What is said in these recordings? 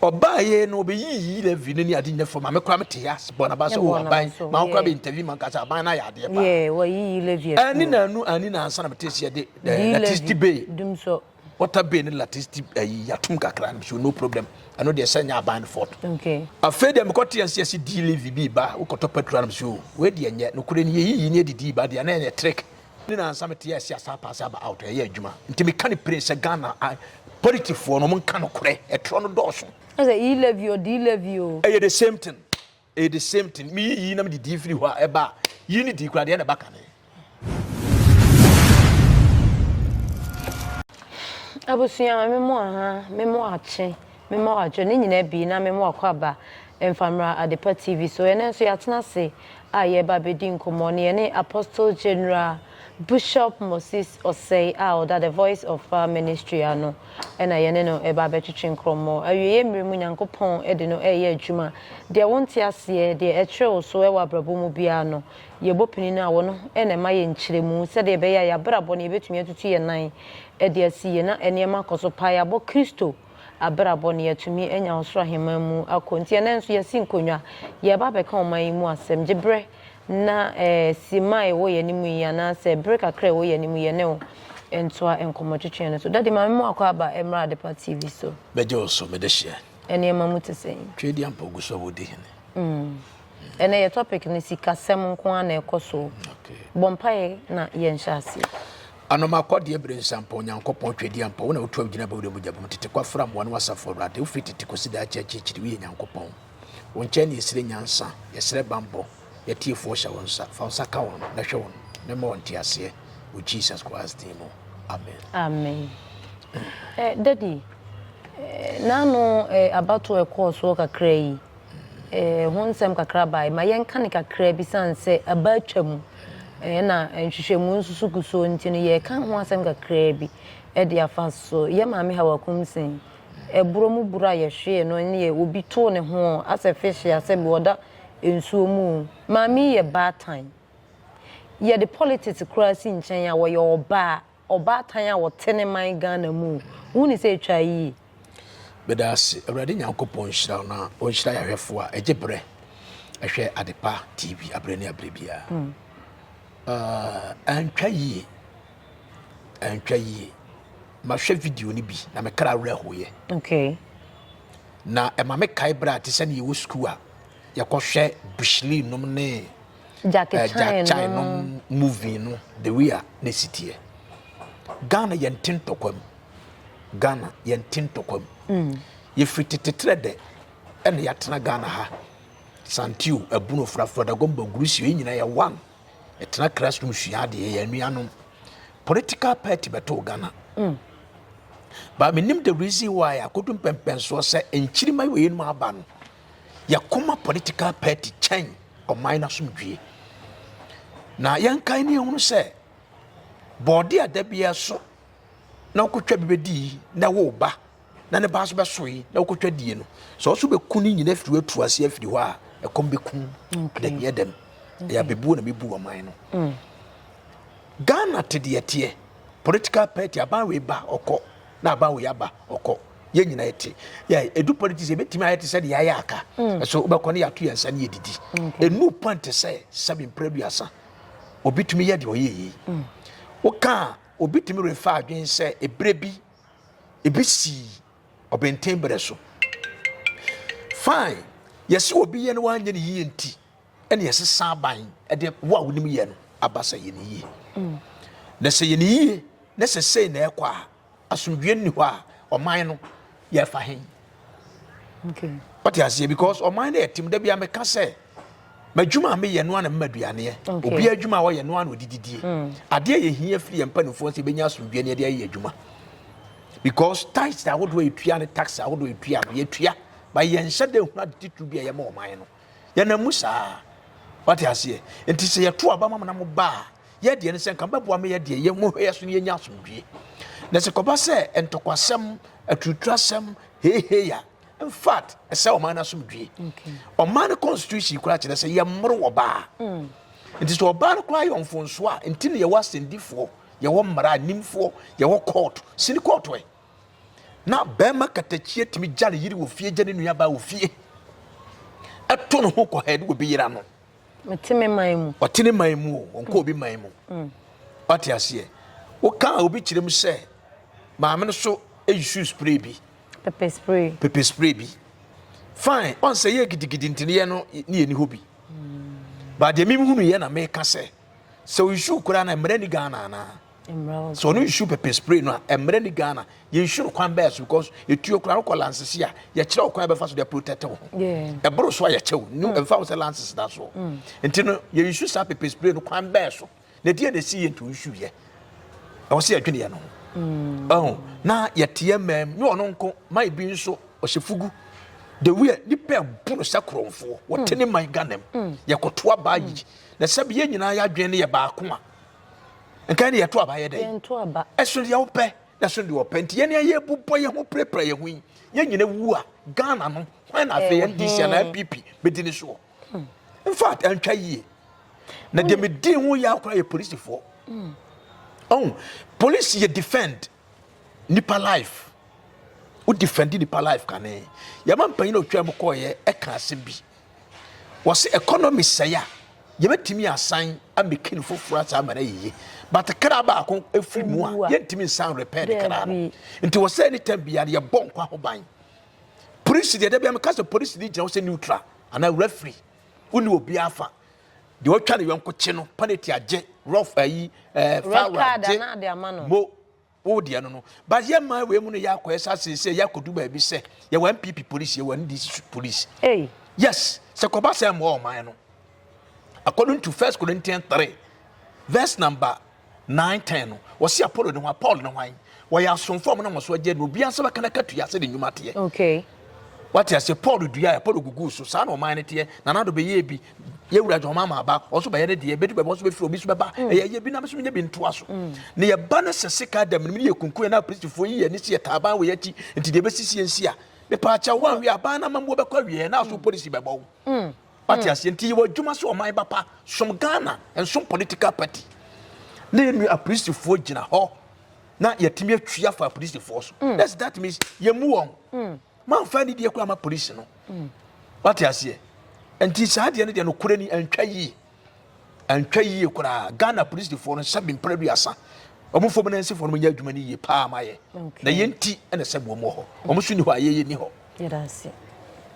Ɔbaeɛ no ɔbɛyiyii Levi no ne ade nyina fam a me koraa metee ase bɔɔ n'aba sɛ, O aban, ma wo koraa bɛ interview ma nka sɛ aban no ayɛ adeɛ paa. Anni na anu anni na ansa na metee sɛ yɛde electricity bay, water bay ne electricity ayi atom kakra no mesɛ no problem ɛno deɛ sɛ nyɛ aban no fault. Afei deɛ mekɔ tee ase yɛse di Levi bi ba wokɔtɔ petrol no mesɛ o wei deɛ nyɛ nokorɛ ni yɛyiyi ne yɛde dii ba deɛ na ɛyɛ trick Ne nansa me te yɛ ɛsi asa apaase aba out ɛyɛ adwuma nti me ka ne pere sɛ Ghana politifoɔ no mo nka no korɛ ɛtorɔ no dɔɔso. Ɛsɛ yi love you di love you. Ɛyɛ the same thing ɛyɛ the same thing me yi yi na me de di firi hɔ a ɛba yi ne di kura deɛ na ɛba kane. Abusua me mo aha me mo akye. Mema wo adwo ne nyinaa bi na mema wo akwaaba mfa mmra Adepa TV so. Ɛnnɛ nso yɛatena ase a yɛreba abɛdi nkɔmmɔ ne yɛne Apostle General Bushop Moses Osei a ɔda The Voice of Power Ministry ano na yɛne no reba abɛtwetwe nkrɔmmɔ. Awieeɛ mmerɛ mu Nyankopɔn de no reyɛ adwuma. Deɛ wonte aseɛ, deɛ ɛkyere wo so wɔ abrabɔ mu biara no, yɛbɔ pini no a wɔ no na ɛma yɛn nkyerɛmu sɛdeɛ ɛbɛyɛ a yɛabrabɔ no yɛbɛtumi atutu yɛn nan de asi yie na nneɛma akɔ so paa. Yɛabɔ Kristo abrabɔ no, yɛatumi anya ɔsoro ahemman mu akɔ. Nti ɛnnɛ nso yɛasi nkonnwa, yɛreba abɛka ɔman yi mu asɛm. Gye berɛ na eh, simma a ɛwɔ yɛn anim yi, anaasɛ bere kakra a ɛwɔ yɛn anim yi, yɛne wo ntoa nkɔmmɔtwetwe no so. Daddy, ma mema wakɔ aba mmra Adepa TV so. Bɛgye wo so, mede hyeɛ. Nneɛma mu te sɛn? Tweaduampɔ gu so a wɔdi hene. Ɛnnɛ yɛ topic no, Sikasɛm nko ara na ɛkɔ so. Okay. Bɔ mpaeɛ na yɛnhyɛ aseɛ. Anoma kɔ deɛ bere nsa mpa Onyankopɔn Twɛdeɛ ampa Wo na wotu awo gyina Bɔ wura mu gya bom Tete kɔ afra mmoa no Asafo Awurade Wofiri tete kɔsi daakye akyirikyiri Woyɛ Nyankopɔn Wo nkyɛn na yɛsrɛ nyansa Yɛsrɛ bammɔ Yɛatiefoɔ hyɛ wo nsa Fa wo nsa ka wɔn Na hwɛ wɔn Na ma wɔn nteaseɛ Wɔ Jesus Christ din mu Amen Amen eh, Daddy eh, N'ano eh, abatoɔ ɛkɔɔ soɔ kakra yi ho nsɛm kakra bae. Ma yɛnka no kakra bi sane sɛ aba atwa mu na nhwehwɛmu nso so gu so nti no yɛreka ho asɛm kakra bi de afa so. Yɛ maame Hawa Kumsin, ɛborɔ mu buro a yɛhwee no ne yɛ obi too ne ho asɛ fish a sɛ bi ɔda nsuo mu. Maame yi yɛ baatan. Yɛde politics koraa si nkyɛn a ɔyɛ ɔbaa. ɔbaatan a ɔte ne man Ghana mu. Wohu ne sɛ ɛtwa yie. Meda ase. Awurade Nyankopɔn nhyira na ɔnhyira yɛahwɛfoɔ a ɛgye berɛ ɛhwɛ Adepa TV aberɛ ne aberɛ biara. Hmm. Ah, ɛntwa yie. Ɛntwa yie. Mahwɛ video no bi na mekra werɛhoeɛ. Okay. Na ɛma mekae berɛ a te sɛ ne yɛwɔ sukuu a yɛkɔhwɛ Bushley nom ne Jackie eh, Chan, Chan no movie no the way a ne si teɛ Ghana yɛn te ntɔkwa mu Ghana yɛn te ntɔkwa mu mm. yɛfiri teteterɛ dɛ ɛna yɛatena Ghana ha santio abunu ofurafura dagomba gurusio yɛn nyinaa yɛ one ɛtena classroom sua adeɛ yɛn nuanom political party bɛtoo Ghana mm. but menim the reason why akodu mpɛmpɛnsoɔ sɛ nkyirima wɔ yɛn mu aba no yɛkoma political party kyɛn ɔman n'asomdwie na yɛnkae ne yɛhunu sɛ bɔɔde a da biara so na wokɔtwa bi bɛdii na ɛwo ba na ne ba so bɛsoe na wokɔtwa die no sɛ ɔso bɛku ne nyina firi atu ase afiri hɔ a ɛkɔm bɛkum ɛdɛhiɛ dɛm ɛyɛ abɛbuo na mebu ɔman no mm. ghana te deɛ teɛ political party aban wei ba ɔkɔ na aban wei aba ɔkɔ yɛn nyinaa yɛte yɛ edu pɔn ti sɛ ebetumi ayɛ te sɛ deɛ ayɛ aka mm. so wobɛkɔ ne yɛato yɛn nsa ne yɛdidi enu pɔn te sɛ sɛbi mpere duasa obi tumi yɛ deɛ ɔyɛ yie mm. woka obi tumi refa adwene sɛ ebere bi ebi si ɔbɛnten berɛ so fine yɛsi obi yɛ no wanyɛ ne yie nti ɛna yɛsi san aban ɛde wo a wonim yɛ no aba sɛ yɛ ne yie mm. na sɛ yɛ ne yie na sɛ sei na ɛkɔ a asomdwie nni hɔ a ɔman no yɛfa he wate aseɛ because ɔman no yɛtem da bia meka sɛ madwuma a meyɛ no ana mema aduaneɛ obi adwuma a ɔyɛ no ana ɔde didie mm. adeɛ yɛ hia firi yɛ mpanimfoɔ sɛ ɛbɛnya asomdwie ne ɛde ayɛ adwuma because tax ahodoɔ a yɛtua ne tax ahodoɔ a yɛtua no yɛtua ba yɛnhyɛ dɛ hunu ade titiri bi a yɛma ɔman no yɛnam mu saa wate aseɛ nti sɛ yɛto aba ma mo na mo ba a Yɛ deɛ no sɛ nka bɛboa me yɛ deɛ yɛ mo hwɛ so no yɛnya asomdwie na sɛ kɔba sɛ ntɔkwasɛm aturuturasɛm heheya in fact ɛsɛ ɔman no asomdwie ɔman no constitution koraa kyerɛ sɛ yɛmmoro wɔ baa mm. nti sɛ ɔbaa no koraa yɛ ɔmfonso a nti ne yɛwɔ asɛndifoɔ yɛwɔ mmara nimfoɔ yɛwɔ kɔɔto sini kɔɔto ɛ na bɛrima katakyie tumi gya ne yere wɔ fie gya ne nuabaa wɔ fie ɛto ne ho kɔ ha ɛde wɔ bɛyera no Ɔte me man mu. Ɔte ne man mu o, ɔnkɔ obi man mu. Mm. Wate aseɛ. Woka a obi kyerɛ mu sɛ maame no so esu spray bi. Pepper spray. Pepper spray bi. Fine, ɔnsɛ yɛ gidigidi nti yɛ no ne yɛ ni hɔ bi. Mm. Ba deɛ mimi hunu yɛ na meka sɛ sɛ oyisu koraa na mmerɛ ni Ghana anaa. sɛ ɔno nsu pɛpɛ spray no a ɛmmerɛ ne ghana yɛnsu no kwan bɛɛ so because ɛtuo koraa wokɔ lances a yɛkyerɛ wo kwan bɛfa so de protect wo ho ɛboro so a yɛkyɛ wo ne ɛmfa wo sɛ lances da soɔ nti no yɛnsu saa pɛpɛ spray no kwan bɛɛ so na ɛdeɛ na ɛsi yɛ nti wonsuyɛ ɛwɔ sɛ yɛdweneɛ no ho na yɛteɛ mam ne ɔno nko ma ebi nso ɔhyɛ fugu the way nipa ɛbu no sɛ korɔmfoɔ wɔte ne man ghanam yɛkɔtoa baa yi na sɛbi yɛ nyinaa yɛadwene no yɛ baako a nka ne yɛto aba yɛ dɛn ɛsono deɛ wopɛ na ɛsono deɛ wɔpɛ nti yɛne ayɛ bobɔ yɛn ho pirapira yɛn ho yi yɛn nyina wu a ghana no hwan na afei ndc anaa npp bɛdi ne soɔ hmm. infact ɛntwa yie na deɛ medii ho yɛ akora yɛ polisifoɔ hmm. ɔhu polisi yɛ defend nipa life wo defend nipa life kane yɛma mpanyin na otwa mu kɔɔyɛ ɛka asɛm bi wɔsi economy sɛe a yɛbɛtumi asan ameki no foforɔ asan ama no ayeye but kra baako efiri mu a yɛntumi nsan repair ne kra no nti wɔsɛ anytime bia no yɛbɔ nkwa ho ban polisi deɛ dɛbia meka sɛ polisi ne gyina wo sɛ neutral anaa referee wone obiara fa deɛ ɔtwa ne yɔnko kye no penalty agye rough ayi eh, ɛɛ foul agye mo wo deɛ no no but yɛ mmaa wei mu no yɛ akɔyɛ sa seesei yɛ akɔdu baabi sɛ yɛwɔ npp police yɛwɔ ndc police yes sɛ kɔba sɛ mmoa ɔman no according to first corinthians three verse number nine ten no wɔsi apollo ne hwan paul ne hwan wɔyɛ asomfo ɔmo na ɔmo so agye no obiara nsa bɛka n'aka tua sɛ ne nnwuma teɛ okay wate ase paul dua yɛ paul gugu so saa na ɔman no teɛ na n'ado bɛyɛ bi yɛwura jɔn mama aba ɔso bɛyɛ ne deɛ bɛdu bɛbɔ so bɛfiri obi so bɛba mm. ɛyɛ yɛ bi na bɛso nyɛ bi ntoa so mm. na yɛba no sɛ sika dɛm no mu yɛ kunkunyɛ na apolisifoɔ yi yɛ ne si yɛ taaban wɔ yɛ akyi nti deɛ bɛsisi yɛn si a mepaakyɛ wɔn awie aban no amammuo bɛkɔ awie na aso mm. polisi bɛbɔ wo wate hmm. aseɛ nti yɛwɔ adwuma sɛ ɔman bapa som ghana nsom political party na yɛnu apolisifoɔ gyina hɔ na yɛtumi atwi afa apolisifoɔ so hmm. that's that means yɛmu wɔn hmm. mamfa ne deɛ kɔ ama polisi no wate aseɛ nti saa deɛ no deɛ nokorɛ ni antwa yie Antwa yie koraa Ghana polisifoɔ no nsa bi mpere aduasa wɔn fam na nsifoɔ no nyɛ adwuma no yie paa ma yɛ na yɛn nti na sɛ wɔn wɔ hɔ wɔn so ni hɔ a yɛyɛ ni hɔ. Yɛda ase.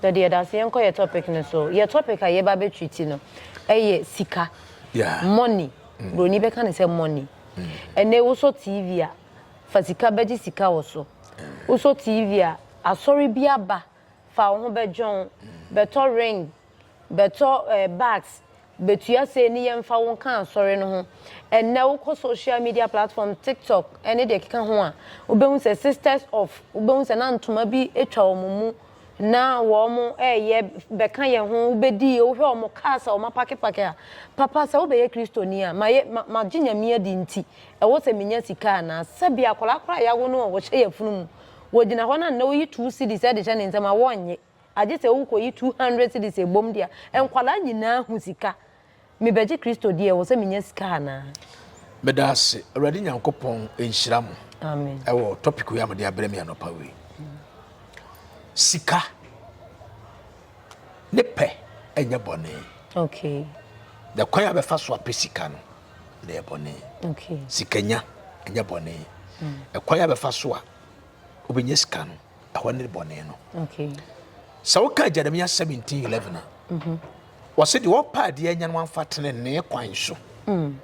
Dade yɛda ase yɛn kɔ yɛ topic no so yɛ topic a yɛba bɛ treat no ɛyɛ sika yeah. money mm. broni bɛka ne sɛ money mm. ɛnɛ wosɔ tv a fa sika bɛgye sika wɔ so mm. wosɔ tv a asɔre bi aba fa wo ho bɛdwon, bɛtɔ ring, bɛtɔ eh, bags, betua sei ne yɛmfa wo nka asɔre no ho. Ɛnnɛ wokɔ social media platform, TikTok ne deɛ ɛkeka ho a, wobɛhu sɛ sisters of, wobɛhu sɛ na ntoma bi atwa wɔn mu, na wɔn ɛyɛ bɛka yɛn ho, wobɛdi, wohwɛ wɔn cars a wɔn apakepake a, papa sɛ wobɛyɛ Kristoni a, ma yɛ, ma, magye Nyame adi nti, ɛwɔ sɛ menya sika anaa? Sɛbea akwadaa koraa a yɛawo no a wɔhyɛ yafunu mu, Wogyina hɔ na nnɛ woyi two cedis ɛde hyɛ ne nsam a wɔnnye. Agye sɛ wo kɔ yi two hundred cedis ɛbom de a, nkwadaa nyinaa hu sika. Me bɛgye Kristo di ɛwɔ sɛ me nya sika anaa? Meda ase awurade nyankopɔn nhyira mo Amen. ɛwɔ topic wei a mode abrɛ me anɔpa wei sika ne pɛ ɛnyɛ bɔne Okay. na kwan a bɛfa so apɛ sika no na ɛyɛ bɔne okay. sikanya ɛnyɛ bɔne mm. ɛkwan a bɛfa so a wobɛnya sika no ɛhɔ ne bɔne no okay. sɛ woka jeremia 1711 a mm -hmm. wɔse deɛ wɔpɛ adeɛ anya no amfa tenenee kwan so mm.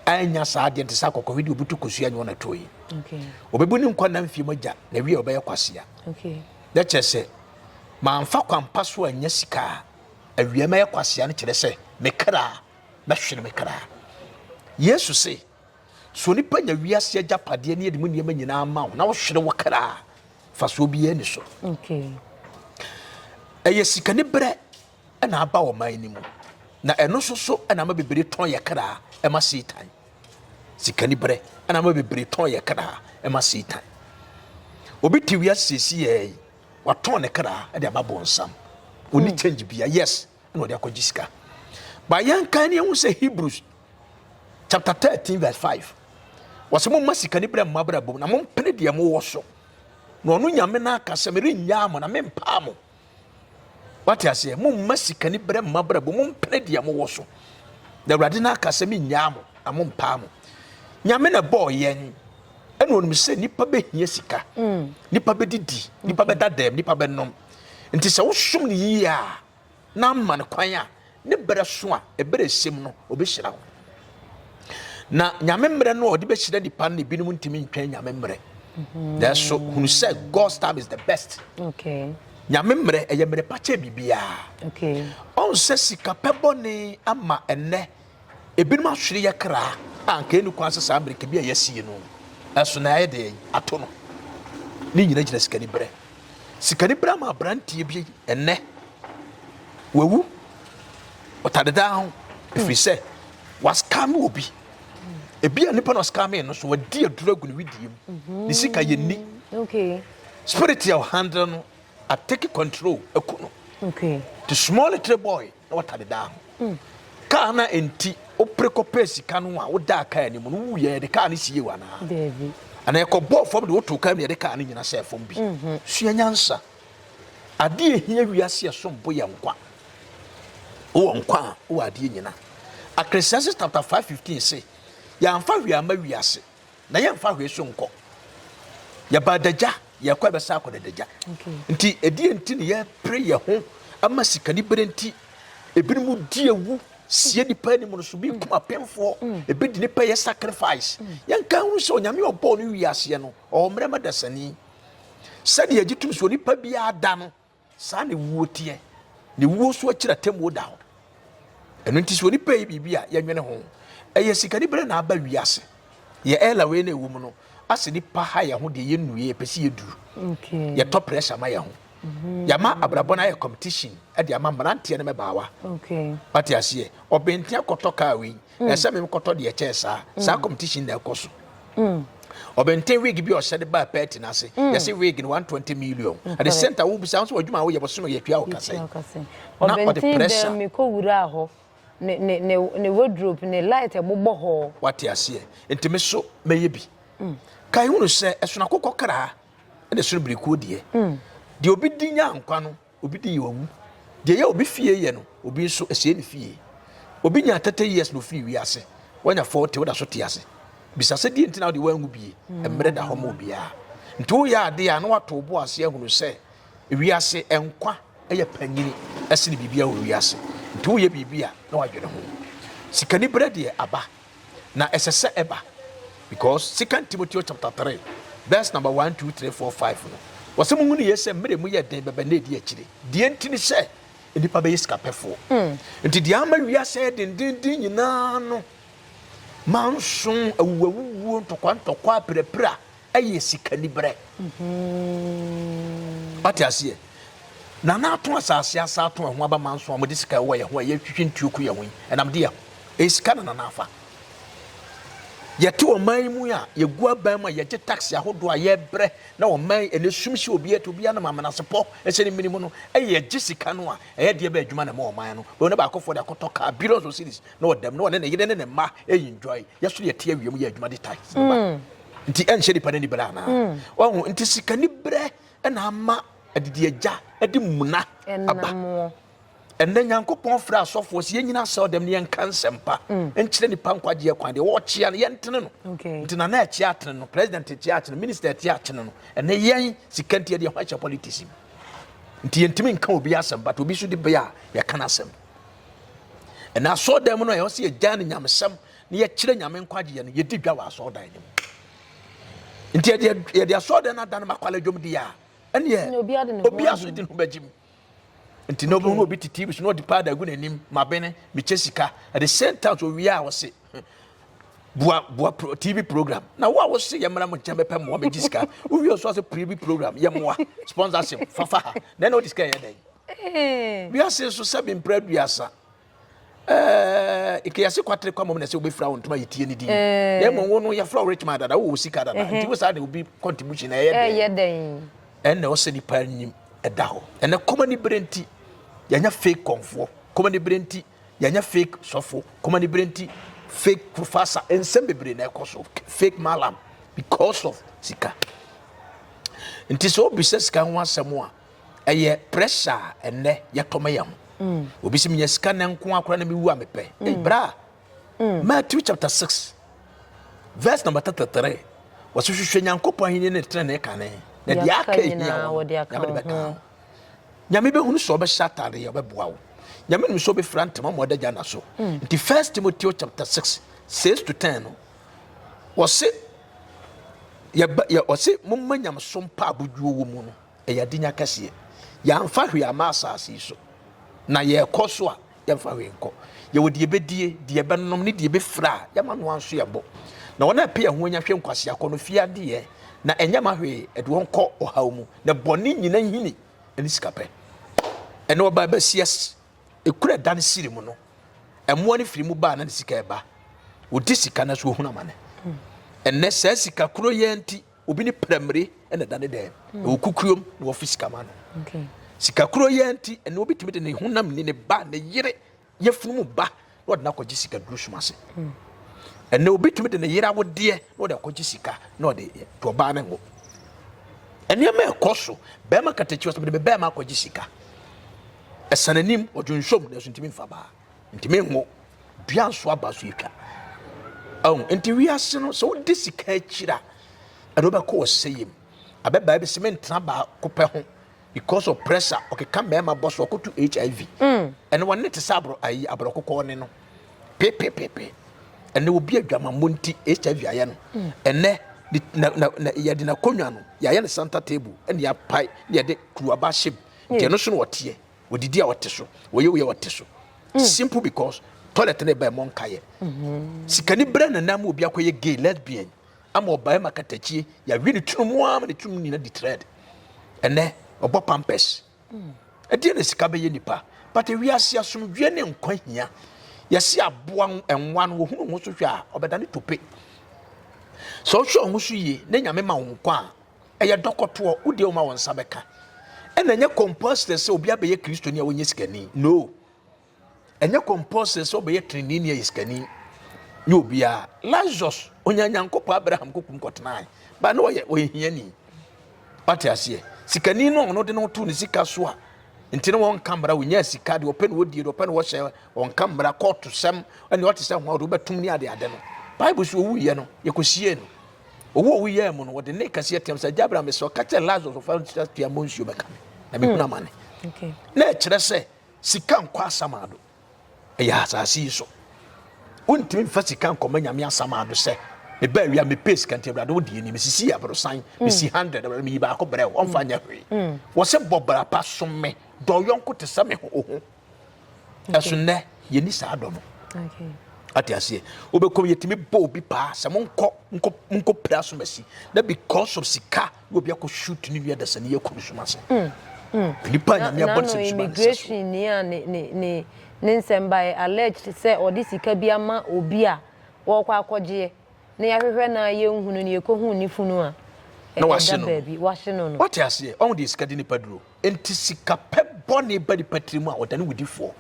anya saa adeɛ nte sɛ akɔkɔhwe deɛ ɔbutu kosua nyɛ ɔnatoo yi okay. ɔbɛbu ne nkwa na mfie mu agya na wie ɔbɛyɛ kwasea okay. na kyerɛ sɛ mamfa kwampa so anya sika a awia mɛyɛ kwasea no kyerɛ sɛ mekra bɛhwere me kra. Yesu se, sɛ onipa nya wiase agyapadeɛ ne ɛde mu nneɛma nyinaa ma wo na wohwere wo kra a, fasoɔ biara ni so. Ɛyɛ sikani berɛ na aba ɔman no mu na ɛno nso so na ama bebree tɔn yɛ kra ɛma Satan. Sikani berɛ na ama bebree tɔn yɛ kra ɛma Satan. Obi te wiase siesie yɛ yi, watɔn ne kra ɛde aba bɔnsam. Oni mm. change bia, yes. na ɔde akɔgye sika ba yɛnkan ne yɛhu sɛ hebrews chapter 13 verse 5 wɔsɛ momma sika ne berɛ mma brabom na mompene deɛ mowɔ so na ɔno nyame no aka sɛ merenyaa mo na mempaa mo wate aseɛ momma sika ne berɛ mma brabom mompene deɛ mowɔ so na awurade no aka sɛ menyaa mo na mompaa mo nyame na ɛbɔɔ yɛn ɛna ɔnim sɛ nipa bɛhia sika mm. nipa bɛdidi nipa bɛda dɛm nipa bɛnom nti sɛ wosom no yie a na ama no kwan a, ne berɛ so a, ɛberɛ ɛsɛm no, ɔbɛhyira wo. Na nyame mmerɛ no a ɔde bɛhyira nipa no, ebinom ntumi ntwɛn nyame mmerɛ. Mhm. Nanso hunu sɛ God's time is the best. Okay. nyame mmerɛ ɛyɛ mmerɛ pa kyɛ biribiara. Okay. Ɔnsɛ sika pɛ bɔne ama ɛnɛ. Ebinom ahwere yɛ kra a anka enni kwan sɛ saa mmirika bi a yɛasie no so na yɛayɛ dɛn ato no. Ne nyinaa gyina sikanibere. Sikanibere ama aberanteɛ bi nnɛ wawu ɔtadedaa ho ɛfiri sɛ waskame obi. Ebia nipa na ɔskamee no so wadi aduro agu ne wedeɛ mu. Ne sika yɛnni. Spirit a ɔhandle no Atake control aku no. The small little boy na wɔta de daa ho. Kaa no a enti wopere kɔpɛɛ sika no a wodaa kaa anim no wuiɛ yɛde kaa no siee wo anaa? Anaa ɛkɔbɔɔ fam de wotoo kaa mu yɛde kaa no nyina sɛɛ fam bi? Sua nyansa. Adeɛ a ɛhia wiase ɛsom bo yɛ nkwa. Wowɔ nkwa a wowɔ adeɛ nyina. Akreseases chapter 5 15 se, Yɛamfa hwee amma wiase. na yɛmfa hwee so nkɔ yɛba adagya yɛkɔ ɛbɛsa akɔ dadagya nti ɛdeɛ nti ne yɛpere yɛ ho ama sikani bere nti ebinom di ewu sie nipa anim no so bi kum apemfoɔ mm. ebi di nipa yɛ sacrifice mm. yɛnka ho sɛ onyame ɔbɔɔ no wi aseɛ no ɔwɔ mmerɛma dasani sɛdeɛ agye tum so nipa biara da no Saa na wuo teɛ, na wuo nso akyiri atemmuo da hɔ. Ɛno nti sɛ onipa yi biribi a yɛnwene ho. Ɛyɛ sikanibere na aba wiase. Yɛ ɛla wei na ɛwɔ mu no, asɛ nipa ha yɛ ho deɛ yɛnnue, yɛpɛ sɛ yɛduru. Yɛtɔ pressure ma yɛ ho. Mm-hmm. Yɛama abrabɔ no ayɛ competition de ama mmeranteɛ no mɛbaawa. Wate aseɛ, ɔbɛntia kɔtɔ kaa wei. mm. ɛsɛ me nkɔtɔ deɛ ɛkyɛɛ saa mm. saa competition na ɛkɔ so mm. ɔbɛnten wig bi ɔhyɛ de baa pɛɛti n'ase yɛsi wig no one twenty million at the same time wo bisa nso adwuma a woyɛ bɔsɔn yɛ tua ɔkasa yi na ɔde pressure ɔbɛnten bɛn mi kɔ wura hɔ ne ne ne ne wardrobe ne light ɛbobɔ hɔ. wate aseɛ ntumi so mɛyɛ bi kan hunu sɛ ɛsono akokɔ kra ɛna ɛsono birikuo deɛ deɛ obi di nya nkwa no. Obi de yɛ owu. Deɛ ɛyɛ obi fie yɛ no, obi nso ɛsɛe ne fie. Obi nyaa 30 years na ofiri wiase. Wanya 40, woda so te ase. Bisa sɛ deɛ nti na wode wanwu bie. Mmerɛ da hɔ ma obiara. Nti woyɛ adeɛ a na wato wo bo ase ahunu sɛ wiase nkwa yɛ panyini ɛsene biribiara wɔ wiase. Nti woyɛ biribi a na wadwene ho. Sikaniberɛ deɛ aba. Na ɛsɛ sɛ ɛba because second Timoteo chapter three verse number one two three four five no wɔsɛ mo hunu yie sɛ mmerɛ mu yɛ den bɛbɛ na ɛdi akyire deɛ nti ne sɛ nnipa bɛyɛ sikapɛfoɔ mm. nti deɛ ama wiasɛ dendenden nyinaa no manso awuwawuwuo ntɔkwantɔkwa apirapira Ɛyɛ sikaniberɛ. Wate aseɛ? Na na ato asase asa ato ɛho aba manso a wɔde sika ɛwɔ yɛn ho a yɛtwitwi ntuo ku yɛn ho yi ɛnam de yɛn ho. Ɛyɛ sika na nana afa. Yɛte ɔman yi mu a yɛgu aban mu a yɛgye tax ahodoɔ a yɛbrɛ na ɔman yi ɛnɛ sum hyɛ obiara ti obiara nam amenasepɔ ɛhyɛ ne mene mu no ɛyɛ yɛgye sika no a ɛyɛ deɛ ɛbɛ adwuma na ɛma ɔman no bɛ ɔne baakɔfoɔ de akɔtɔ car billions of cities na ɔdam na ɔne ne yere ne ne mma ɛyi enjoy yɛso yɛte awia mu yɛ adwuma de tax no ba. Nti ɛnhyɛ nipa no anibere anaa? Hmm. Wahu nti sika niberɛ na ama adidi agya de muna aba. Ɛnna Nyankopɔn frɛ asɔfoɔ sɛ yɛnyina asɛw dɛm ne yɛnka nsɛmpa hmm. nkyerɛ nipa nkwagyeɛ kwan deɛ wɔkyea no yɛntene no nti na na ɛkyea atene no president ɛkyea atene minister ɛkyea atene no ɛnɛ yɛn sika nti yɛde ɛho ahyɛ politics mu nti yɛntumi nka obi asɛm but obi so de bɛyɛ a yɛka no asɛm ɛnna asɔɔ dɛm no a yɛwɔ sɛ yɛgya no nyamesɛm na yɛkyerɛ nyame nkwagyeɛ no yɛdi dwa wɔ asɔɔdan no mu nti yɛde asɔɔdan no adane makwala dwom di a ɛneɛ obi aso di ho bɛgye mu nti na obɛhu obi tete bi so na ɔde paada agu n'anim mabene mekyɛ sika at the same time so owie a ɔse bua bua pro, tv program na wo a wose yɛmmra mo nkyɛn bɛpɛ mmoa megye sika wowie so ase tv program yɛmmoa sponsorship fafa ha na ɛna wode sika yɛ dɛn wiase so sɛ mempra duasa ɛɛ kiyasi kwatere kwa mom na sɛ wobɛfira wo ntoma yɛtie ne din eh. na mmom wo no yɛfrɛ wo richmond dada wowɔ sika dada eh. nti wo saa de obi contribution na ɛyɛ dɛn ɛnna ɔsɛ nipa nim ɛda hɔ ɛnɛ kɔma ne berɛ nti yɛnyɛ fake kɔnfoɔ kɔma ne berɛ nti yɛnyɛ fake sɔfo kɔma ne berɛ nti fake professor nsɛm bebree na ɛkɔ so fake malam because of sika nti sɛ obisa sika ho asɛm a ɛyɛ pressure a ɛnɛ yɛtɔ ma yɛn ho mm. obi sɛ menya sika nɛ nko akora na mewu a mepɛ mm. ei bra mm. matthew chapter 6 verse number 33 wɔsɛ hwehwɛ nyankopɔn ahenni ne tena ne kane na deɛ aka ahia wɔ nyame bɛka ho nyame bɛhunu sɛ ɔbɛhyɛ atadeɛ ɔbɛboa wo nyame nim sɛ ɔbɛfira ntama ma ɔdagya na so nti first timothy chapter 6 6 to 10 no wɔse yɛ ɔse momma nyamesom pa abodwuo wɔ mu no ɛyɛ adenya kɛseɛ. Yɛamfa hwee ama asase yi so, na yɛrekɔ so a, yɛmfa hwee nkɔ. Yɛwɔ deɛ yɛbɛdie, deɛ yɛbɛnom ne deɛ yɛbɛfira a, yɛma no anso yɛn bo. Na wɔn a ɛpɛ yɛn ho anya hwɛ nkwaseakɔ no fie adeɛ, na ɛnyɛ ma hwee, ɛde wɔn kɔ ɔhaw mu. Na bɔne nyina hini ne sikapɛ. Ɛne ɔbaa bɛ sias, ɛkura ɛda ne siri mu no, ɛmoa no firi mu baa na ne sika ɛba. Wɔdi sika no so wɔhunu amane. Ɛnɛ saa sika kuro yɛ nti, Obi ne prɛmire na ɛda ne dan mu, ɛwɔ kukurom na wɔfi sika ma no. Sika kuro yɛ nti, ɛnna obi tumi de ne honam ni, ne ba, ne yere, yɛfunu mu ba, na ɔde no akɔgye sika duro sum ase. Ɛnna obi tumi de ne yere awodeɛ na ɔde akɔgye sika na ɔde to ɔbaa no ngo. Nneɛma ɛkɔ so, bɛrima katakyi wɔ sɛ mede me bɛrima akɔgye sika. Ɛsan anim, ɔdwo nsom, nanso ntumi mfa baa. ntumi nwo dua nso aba so atwa ɛho nti wiase no sɛ wode sika akyiri a ɛde wobɛkɔ ɔsɛyɛ mu abɛbaa bi sɛ mentena baako pɛ ho because of pressure ɔkeka mmarima bɔ so ɔkoto hiv mm. ɛne wɔn ne te sɛ aborɔ ayi aborɔ kokɔɔ ne no pepepepe ɛne obi adwamammɔ nti hiv ayɛ no mm. ɛnɛ yɛde n'akonnwa no yɛayɛ no santa table ɛne yɛapae ne yɛde kuruaba hyɛ mu nti ɛno so na ɔteɛ wɔdidi a wɔte so wɔyɛ wei a wɔte so mm. simple because toilet no ɛbɛn mɔ nkayɛ mm-hmm. sikani berɛ na nam obi akɔyɛ gay lesbian ama ɔbae ma katakyie yɛawe ne tunu mu ara ma ne tunu mu nyina di thread ɛnɛ ɔbɔ pampers mm. ɛdeɛ na sika bɛyɛ nipa but ewiase asomdwoeɛ ne nkwa hia yɛsi aboa nwa no wɔhunu ho so hwɛ a ɔbɛda ne tope sɛ ɔhwɛ ɔho so yie ne nyame ma wo nkwa a Ɛyɛ dɔkɔtoɔ, wo deɛ woma wo nsa bɛka. Ɛna ɛnyɛ compulsory sɛ obi abɛyɛ kristoni a wɔnyɛ sikani. No. Ɛnyɛ compulsory sɛ ɔbɛyɛ trenini a yɛ sikani. Nyɛ obiara. Lazarus, ɔnya Nyankopɔn Abraham kokum kɔtenae. Ba no ɔyɛ ɔyɛ hiani. Wate aseɛ. Sikani no ɔno de no to ne sika so a nti no wɔn nka mmara wɔnya sika de ɔpɛ no wɔdie de ɔpɛ no wɔhyɛ wɔn nka mmara kɔɔto sɛm ɛne ɔte sɛ ho a ɔde wobɛtom ne ade ade no. Bible so ɔwuiɛ no yɛkɔsiee no. ɔwu ɔwu yɛɛ mu no wɔde ne kɛseɛ team sɛ agya abraham mesrɛ ɔka kyerɛ lazarus ɔfa nsa tia mmɔ nsuo bɛka me na mekunu hmm. amane na ɛkyerɛ sɛ sika nkɔ asamado ɛyɛ asase yi so wontumi mfa sika nkɔma nyame asamado sɛ meba awia mepɛ sika nti awurade wo deɛ ni mesisi aborosan hmm. mesi 100 awurade meyi baako brɛ wo ɔmfa nyɛ hwee hmm. wɔ sɛ bɔ bra pa som me dɔ yɔnko te sɛ me ho ɛso nnɛ yɛni saa dɔ no ate aseɛ wobɛkɔm yɛtumi bɔ obi paa sɛ monkɔ monkɔ pira asomasi na because of sika na obi akɔ shoot ne nua dasani yɛkɔ no soma ase mm, mm. nipa nyame abɔ nsɛm soma immigration ni a ne ne ne ne nsɛm bae alleged sɛ ɔde sika bi ama obi a wɔkɔ akɔgyeɛ na yɛahwehwɛ na yɛnhunu no yɛkɔhu ne funu a na wahye no baabi wahye no no wate aseɛ ɔho deɛ sika de nipa duro Enti sikapɛ bɔne ba nipa tirim a, ɔdane wudifoɔ.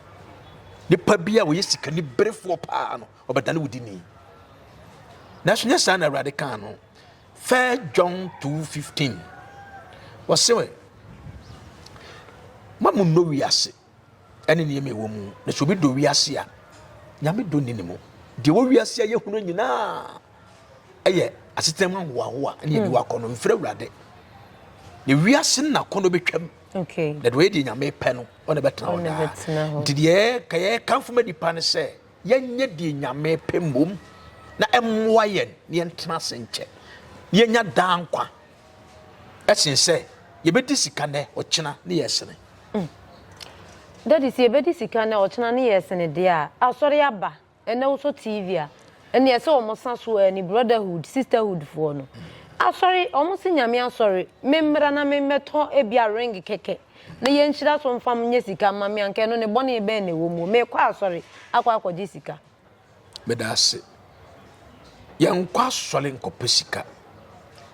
Nipa bi a ɔyɛ sikaniberefoɔ paa no, ɔbɛdane wudini. Nanso nyɛ saa na Awurade kaa no. 1 John 2:15 ɔse, Mma mo nnɔ wiase, ɛne nneɛma ɛwɔ mu na sɛ obi dɔ wiase a nyame dɔ nni ne mu deɛ ɛwɔ wiase a yɛhunu nyinaa ɛyɛ asetena mu ahoahoa ne ɛbi wakɔ no mfrɛ awurade na wiase no nakɔ no bɛtwam na deɛ ɔyɛ deɛ nyame pɛ no ɔne bɛtena hɔ daa nti deɛ ka yɛkamfo ma nipa no sɛ yɛnyɛ deɛ nyame pɛ mmom na ɛmmoa yɛn na yɛntena ase nkyɛ yɛnya daa nkwa Ɛsen sɛ yɛbɛdi sika nnɛ, ɔkyena ne yɛ sene. Mm. Daddy, sɛ yɛbɛdi sika nnɛ, ɔkyena ne yɛ sene deɛ a, asɔre aba, ɛnɛ wosɔ TV a, ɛne ɛsɛ wɔn sa so a, ɛne brotherhood, sisterhood foɔ no. Mm. Asɔre, wɔn se nyame asɔre, me mmra na me mmɛtɔ ebi a ring kɛkɛ, na yɛn nhyira so mfam nyɛ sika mma me anka ɛno ne bɔne bɛn na ɛwɔ mu, mekɔ asɔre akɔ akɔgye sika. Meda ase. Yɛnkɔ asɔre nkɔpɛ sika.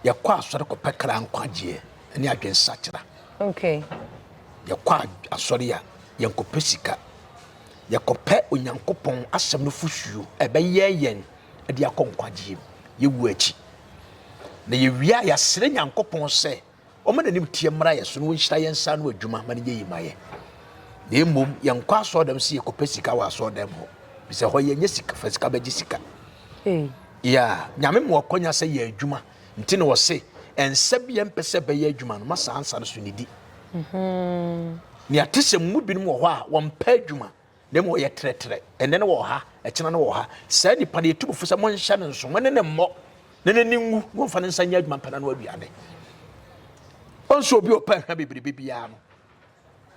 Yɛkɔ asɔre kɔpɛ kra nkwagyeɛ ne adwensakyera. Okay. Yɛkɔ asɔre a yɛnkɔpɛ sika. Yɛkɔpɛ Onyankopɔn asɛm no fosuo a ɛbɛyɛ yɛn de akɔ nkwagyeɛ mu. Yɛwu akyi. Na yɛwie a yɛasrɛ Nyankopɔn sɛ Wɔn animteɛ mmra yɛn so na wɔnhyira yɛn nsa ano adwuma ma no nyɛ yie ma yɛn. Na mmom yɛnkɔ asɔɔdɛm sɛ yɛkɔpɛ sika wɔ asɔɔdɛm hɔ bisɛ hɔ yɛnyɛ sika fa sika bɛgye sika. Ya nyame ma wɔkɔnya sɛ yɛ adwuma nti na wɔse ɛnsɛ bi yɛmpɛ sɛ bɛyɛ adwuma no ma saa nsa no so nidi. Mhm. Nea te sɛ mu binom wɔ hɔ a wɔmpɛ adwuma na mmom ɔyɛ trɛtrɛ, ɛnnɛ no wɔ ha, ɛkyena no wɔ ha. Saa nipa no yɛtu bufo sɛ monhyɛ no nso, mo ne ne mmɔ, na n'ani nwu, na ɔmfa ne nsa nyɛ adwuma mpɛ n'ano aduane. Ɔnso obi ɔpɛ ahwa bebrebe biara no,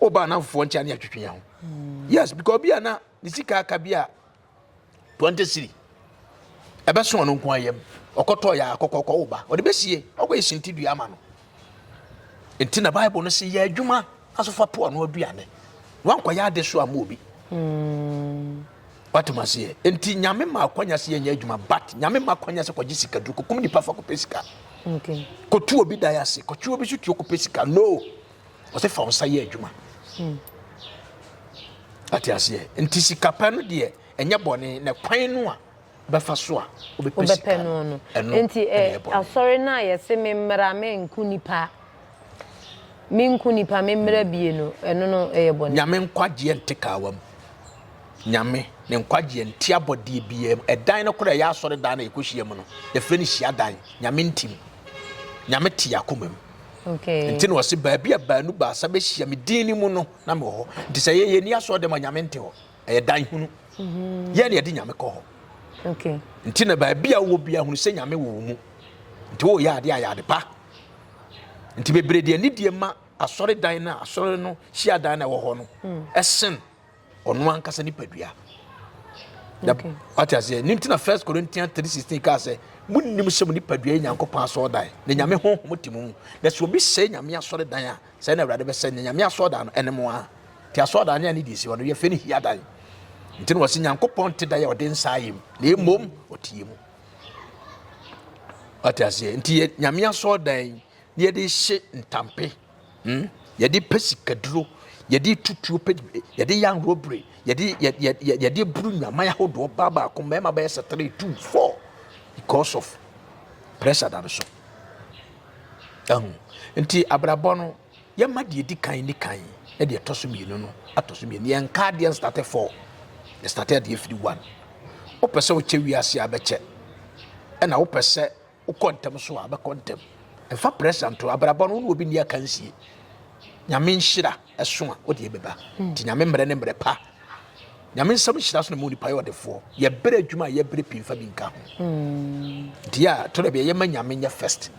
ɔba anamfofoɔ nkyɛn ne atwitwe yɛn ho. Hmm. Yes, because obi a na ne sika aka bi a twenty cedi ɛbɛso ɔno nko ayam ɔkɔtɔ yɛ akɔkɔ kɔ woba ɔde bɛsie ɔkɔ yɛ sinti dua ama no nti na bible no sɛ yɛ adwuma asofa po ano aduane wankɔ yɛ ade so ama obi hmm. watem aseɛ nti nyame ma akwanya sɛ yɛnyɛ adwuma but nyame ma akwanya sɛ kɔgye sika duru kɔkum nipa fa kɔpɛ sika kɔtu obi dan ase kɔtwe obi so tuo kɔpɛ sika no ɔsɛ fa wo nsa yɛ adwuma hmm. ate aseɛ nti sikapɛ no deɛ ɛnyɛ bɔne na kwan no a bɛfa so a wobɛpɛ sika no no nti eh, asɔre no a yɛse me mmara me nko nipa me nko nipa me mmara hmm. bie no ɛno no ɛyɛ bɔne nyame nkwagyeɛ nte kaawa mu nyame ne nkwagyeɛ nti abɔdeɛ biaa mu ɛdan no koraa ɛyɛ asɔre dan na ɛkɔhyia mu no yɛfrɛ no hyia dan nyame ntim nyame te akoma mu Nti na ɔse baabi a baanu baasa bɛhyia me din no mu no na mewɔ hɔ. Nti sɛ yɛyɛ ni asɔre dɛm a nyame nte hɔ. Ɛyɛ dan hunu. Mhm. Yɛn na yɛde nyame kɔ hɔ. Okay. Nti na baabi a wowɔ bia hunu sɛ nyame wɔ wo mu. Nti woyɛ adeɛ a yɛ ade pa. Nti bebree deɛ ne deɛ ma asɔre dan no a asɔre no hyia dan no a ɛwɔ hɔ no ɛsen mm. ɔno ankasa nipadua okay. wate aseɛ ne ntina first corinthians 316 kaa sɛ monim sɛ mo nipadua yɛ nyankopɔn asɔɔdan na nyame honhom te mu na sɛ obi sɛe nyame asɔredan a sɛ na awurade bɛsɛ ne nyame asɔɔdan no ɛne mo a nti asɔɔdan ne a ne di si hɔ no yɛfɛ ne hia dan nti na wɔse nyankopɔn te dan a ɔde nsa ayɛ mu na ɛmmom ɔteɛ mu wate aseɛ nti yɛ nyame asɔɔdan ne yɛde hye ntampe Hmm? Yɛde pɛ sikaduro, yɛde tutuo pɛ, yɛde yɛ anwurobere, yɛde yɛ yɛ yɛ yɛde buru nyaman ahodoɔ baa baako mmarima bɛyɛ sɛ three two four because of pressure da no so. Ɛho nti abrabɔ no yɛma deɛ di kan ni kan na deɛ ɛtɔ so mmienu no atɔ so mmienu yɛn nka adeɛ nstate four yɛ state adeɛ firi one wopɛ sɛ wokyɛ wiase abɛkyɛ ɛna wopɛ sɛ Wokɔ ntɛm so a, bɛkɔ ntɛm. Mfa pressure nto abrabɔ no, wo ne obi nni akansie. Nyame nhyira ɛso a, wode ɛbɛba. Hmm. Nti nyame mmerɛ ne mmerɛ pa. Nyame nsɛm nhyira so na mu nipa yɛ ɔdefoɔ. Yɛbrɛ adwuma a yɛbrɛ pii mfa bi nka ho. Hmm. Nti a, to da bi ɛyɛ ma nyame nyɛ first.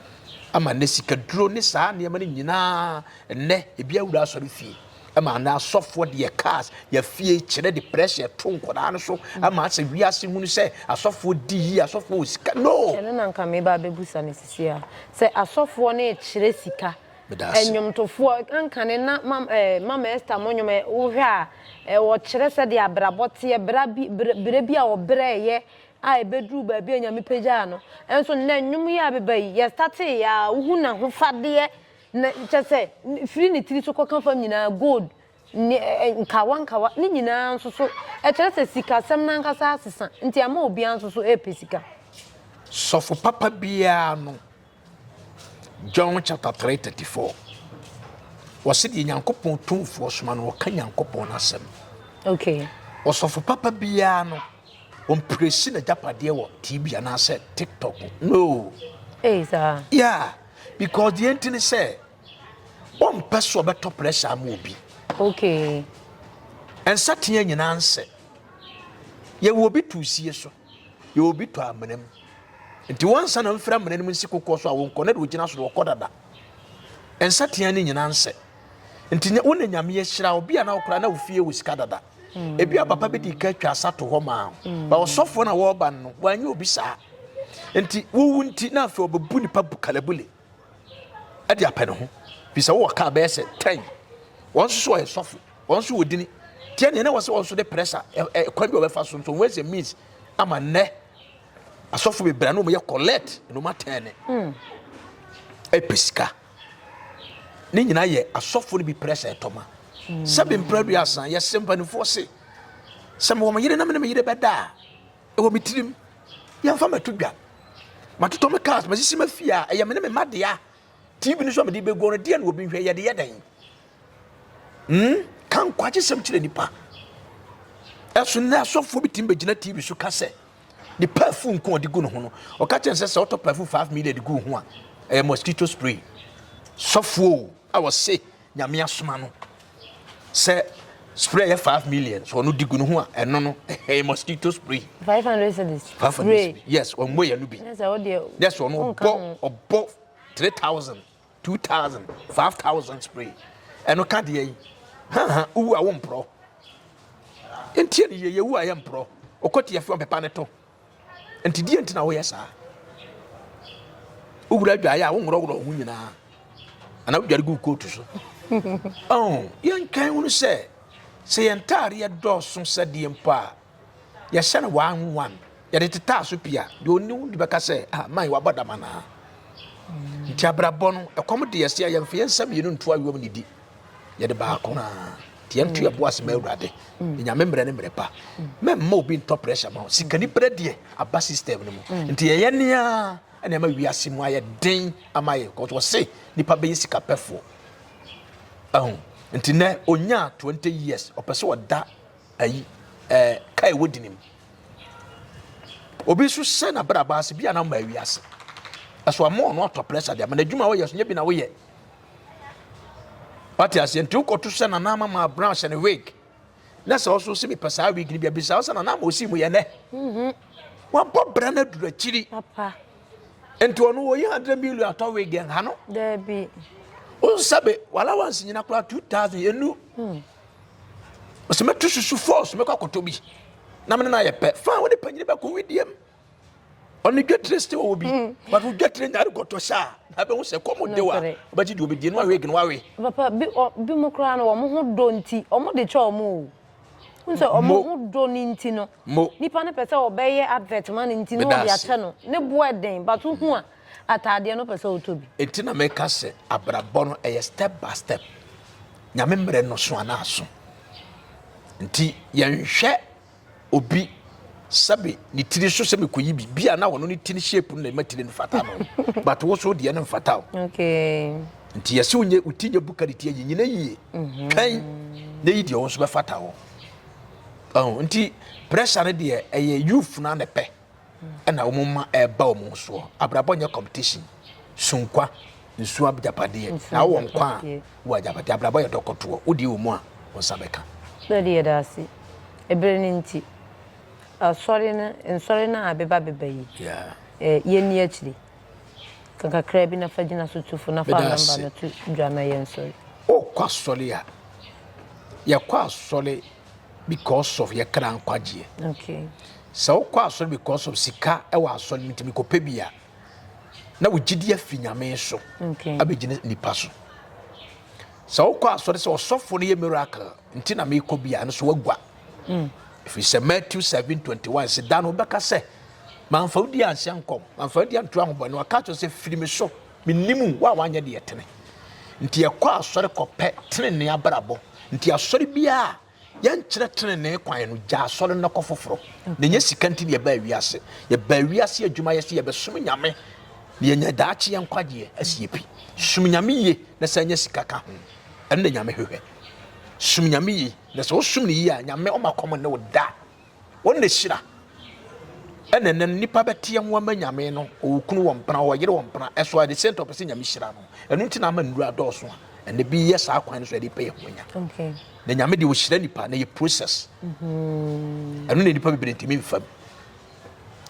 Ama ne sika duro ne saa nneɛma no nyinaa, nnɛ, ebi awura asɔre fie. ma anaa asɔfoɔ deɛ cars yɛfie kyerɛ de pressure to nkwadaa no so ama asɛ wiase hunu sɛ asɔfoɔ di yie asɔfoɔ wɔ sika no ɛno na nka meba abɛbusa no sisi a sɛ asɔfoɔ no rekyerɛ sika ɛnwomtofoɔ ankane na mama ɛsta mo nwom wohwɛ a wɔkyerɛ sɛdeɛ abrabɔ teɛ berɛ bi a wɔbrɛɛyɛ a ɛbɛduru baabi a nyame pagyaa no ɛnso nnɛ nwom yi a beba yi yɛstatee a wohu n'ahofadeɛ Na kyerɛ sɛ, firi ne tiri so kɔka fam nyinaa, gold ne ɛ, nkawa nkawa, ne nyinaa nso so. Ɛkyerɛ sɛ sikasɛm no ankasa asesa, nti ama obiara nso so repɛ sika. Sɔfo papa biara no, John chapter 3 34, wɔse deɛ Nyankopɔn tumfoɔ soma no, ɔka Nyankopɔn no asɛm. Okay. Ɔsɔfo papa biara no, ɔmprɛsi n'agyapadeɛ wɔ TV anaasɛ TikTok. No. Ei, saa. Yeah. because deɛ nti ne sɛ wɔmpɛ so ɔbɛtɔ pressure ama obi okay nsateɛ nyinaa nsɛ yɛwɔ obi to sie so yɛwɔ obi to amena mu nti wɔnsa na mfira amena no mu nsi kokoɔ so a wɔnkɔ na de wɔgyina so na wɔkɔ dada nsateɛ no nyinaa nsɛ nti wo na nyame ahyira obi a na wokora na wofie wɔ sika dada ebi a papa bi di ka atwa asa to hɔ maa ba ɔsɔfoɔ na wɔreba no wɔanyɛ obi saa nti wowu nti na afei ɔbɛbu nipa bu kalabule ɛde apɛ ne ho fi sɛ wowɔ kaa bɛyɛ sɛ tɛn wɔn nso so ɔyɛ sɔfo wɔn nso wɔ dini tiɛ neɛ na wɔ sɛ wɔn nso de prɛsa ɛkwan bi a wɔbɛfa so nso wɔn ɛsɛ means ama nnɛ asɔfo bebree na wɔn yɛ collect na wɔn atɛn ne ɛpɛ sika. ne nyinaa yɛ asɔfo no bi pere sɛ ɛtɔ ma sɛbi mpere aduasa yɛsɛ mpanimfoɔ se sɛ mewɔ me yere na me ne me yere bɛda a ɛwɔ me tirim yɛmfa mato dwa matotɔ me cars masisi ma fie a ɛyɛ me ne me ma dea tv no so a mede bɛguo no deɛ na obi nhwɛ yɛde yɛ dɛn hmm? ka nkwagye sɛm kyerɛ nipa ɛso nnɛ asɔfoɔ bi tumi bɛgyina tv so ka sɛ ne perfume nko ɔde gu ne ho no ɔka kyerɛ sɛ sɛ ɔtɔ perfume five million de gu ho a ɛyɛ mosquito spray sɔfoɔ a wɔse nyame asoma no sɛ spray yɛ five million so ɔno di gu ne ho a ɛno no ɛyɛ mosquito spray. five hundred cedis. five hundred cedis yes ɔmmɔ yɛ no bi. ɛsɛ sɛ ɔdeɛ. yes ɔno ɔbɔ ɔbɔ three thousand. two thousand five thousand spray ɛno ka deɛ yi haha wowu a womporɔ ntie ne yɛyɛ wu a yɛ mporɔ ɔkɔ tiafi ɔmpepa ne to nti deɛ nti na woyɛ saa wowura adwaeɛ a wonworɔworɔ ho nyinaa anaa wodware gu kootu so oh, yɛntwɛn wono sɛ sɛ yɛn ntaareɛ dɔɔso sɛdeɛ mpo a Yɛhyɛ no one one. Yɛde tetaa so pii a, deɛ ɔni wo de bɛka sɛ, ah, man, wabɔ dam anaa? Mm. Nti abrabɔ no, ɛkɔm de yɛsi a yɛmfa yɛn nsa mmienu nto ayɔm ne di. Yɛde baako no ara. Nti yɛnto yɛn bo ase ma Awurade. Mm. Nyame mmerɛ ne mmerɛ pa. Mm. Mɛmma obi ntɔ pressure ma wo. Sikani berɛ deɛ aba system no mu. Mm. Nti yɛyɛ nea ɛna ɛma wiase mu ayɛ den ama yɛ. Kɔtɔ ɔse nipa bɛyɛ sika pɛfoɔ. Ɛho. Nti nɛ ɔnya 20 years ɔpɛ sɛ ɔda Ayi ɛɛ kae wɔ di nim. Obi nso hyɛ n'abrabɔ ase bi a na mmaa wi ase. Ɛso ama ɔno atɔ pressure deɛ ma n'adwuma a wɔyɛ so nyɛ bi na woyɛ. Wate aseɛ nti wokɔto hyɛ nana ama maa brown hyɛ ne wig. Na sɛ ɔso sɛ mepɛ saa wig no bi abisa wo sɛ nana ama ɔsii mu yɛ nɛ. Mhm. Wabɔ bra no aduru akyiri. Papa. Nti ɔno wɔyi 100 million atɔ wig ɛnha no. Daabi. Wonsa be wala wansi nyina koraa 2000 ɛnu. Hmm. Ɔsɛ mɛtu susu fɔɔ so mɛkɔ akɔtɔ bi na mene no ayɛ pɛ fa wode panyini bɛkɔ wedeɛm ɔne dwatire sɛ ɔwɔ bi hmm. but wo dwatire nyare gɔtɔ sɛ a na bɛhu sɛ kɔm de wa wobɛgye deɛ ɔbɛdie no awe gene wawe papa bi mu koraa no wɔn ho dɔ nti wɔn de kyɛ wɔn o nsɛ wɔn ho dɔ ne nti no nipa no pɛ sɛ ɔbɛyɛ advert ma no nti no ɔde akyɛ no ne boɔ den but wohu a ataadeɛ no pɛ sɛ wotɔ bi. Enti na meka sɛ abrabɔ no ɛyɛ step by step. Nyame mmerɛ no so anaa aso. Nti yɛnhwɛ obi sɛbe ne tiri so sɛ mekɔyi bi bi a na ɔno ne tiri shape no na ɛma tiri no fata no but wo so deɛ no mfata o nti yɛsɛ wonyɛ wo ti nyɛ buka ne ti ayi nyina yie mhm. kan na yi deɛ wo nso bɛfata hɔ nti pressure no deɛ ɛyɛ youth no anɛpɛ na wɔn mma ɛreba wɔn soɔ abrabɔ nyɛ competition sunkwa nsuo agyapadeɛ na wowɔ nkwa a wowɔ agyapadeɛ abrabɔ yɛ dɔkɔtoɔ wodie wɔ mu a wo nsa bɛka na de yɛda ase ɛberɛ no nti asɔre no nsɔre no a beba beba yi yɛnni akyiri ka kakra bi na fa gyina so tufo na fa namba no to dwa na yɛnsɔre wokɔ asɔre a yɛkɔ asɔre because of yɛ kra nkwagyeɛ. Okay. Sɛ wokɔ asɔre because of sika ɛwɔ asɔre no ntumi kɔpɛ bi a na wo gyidi afi nyame so okay. abɛgyina nipa so. Sɛ wokɔ asɔre sɛ ɔsɔfo no yɛ miracle nti na mekɔ bi a ɛno so wagua. Mm. Ɛfiri sɛ Matthew 7:21 sɛ da no wobɛka sɛ mamfa wodi anhyɛ nkɔm mamfa wodi anto ahobɔne waka kyerɛ sɛ firi me so Mennim wo a woanyɛ deɛ ɛtene. Nti yɛkɔ asɔre kɔpɛ tenenee abrabɔ. Nti asɔre biara a yɛnkyerɛ tenenee kwan no, gya asɔre no kɔ foforɔ. Na ɛnyɛ sika nti na yɛbaa wiase. Yɛbaa wiase adwuma yɛ sɛ yɛbɛsom Nyame na yɛanya daakye yɛ nkwagyeɛ asie pi. Som Nyame yie na sɛ anya sika ka ho. Ɛno na Nyame hwehwɛ. Som Nyame yie. Na sɛ wosom no yie a, Nyame ɔma kɔm nne wo da. Wɔn na ehyira. Ɛna ɛnɛ no nipa bɛteɛ ho ama nyame no ɔkunu wɔ mpena ɔyere wɔ mpena ɛso a de sɛ ntɔ pɛ sɛ nyame hyira no ɛno nti na ama nnuru adɔɔso a ɛnɛ bi yɛ saa kwan no so ɛde pɛ yɛ ho anya na nyame deɛ ɔhyira nipa na yɛ process mhm. ɛno na nipa bebree ntumi mfam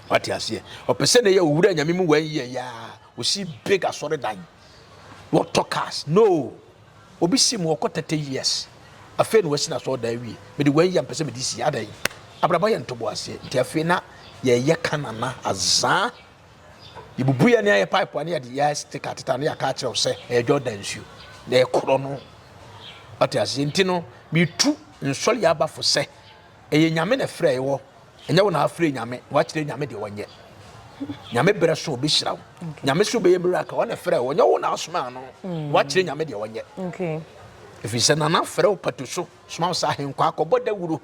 wate aseɛ ɔpɛ sɛ na yɛ owura nyame mu wɔn yɛ yaa ɔsi big asɔre dan wɔtɔ cars no Obi se me wɔkɔ thirty years afei na wasi n'asɔɔdan awie, mede wei yɛ a mpɛ sɛ mede si, adɛn? Abrabɔ yɛ ntoboaseɛ, nti afei na yɛyɛ ka nana azaa, yɛbubu yɛn ani ayɛ pipe a na yɛde yɛ sticker ateta a na yɛaka akyerɛ wo sɛ ɛyɛ Jordan nsuo na ɛkorɔ no, wate aseɛ? Nti no metu nsɔre abafo sɛ ɛyɛ Nyame na ɛfrɛ yɛ wɔ Ɛnyɛ wo na afrɛ nyame, wakyerɛ nyame deɛ ɔnyɛ. Nyame berɛ so ɔbɛhyira wo. Nyame so bɛyɛ miracle, ɔne frɛ wo, ɔnyɛ wo na asoma ano. Mm. Wakyerɛ nyame deɛ ɔnyɛ. Okay. Ɛfiri sɛ nana frɛ wo pato so, soma wo sɛ ahenkɔ akɔbɔ dawuro.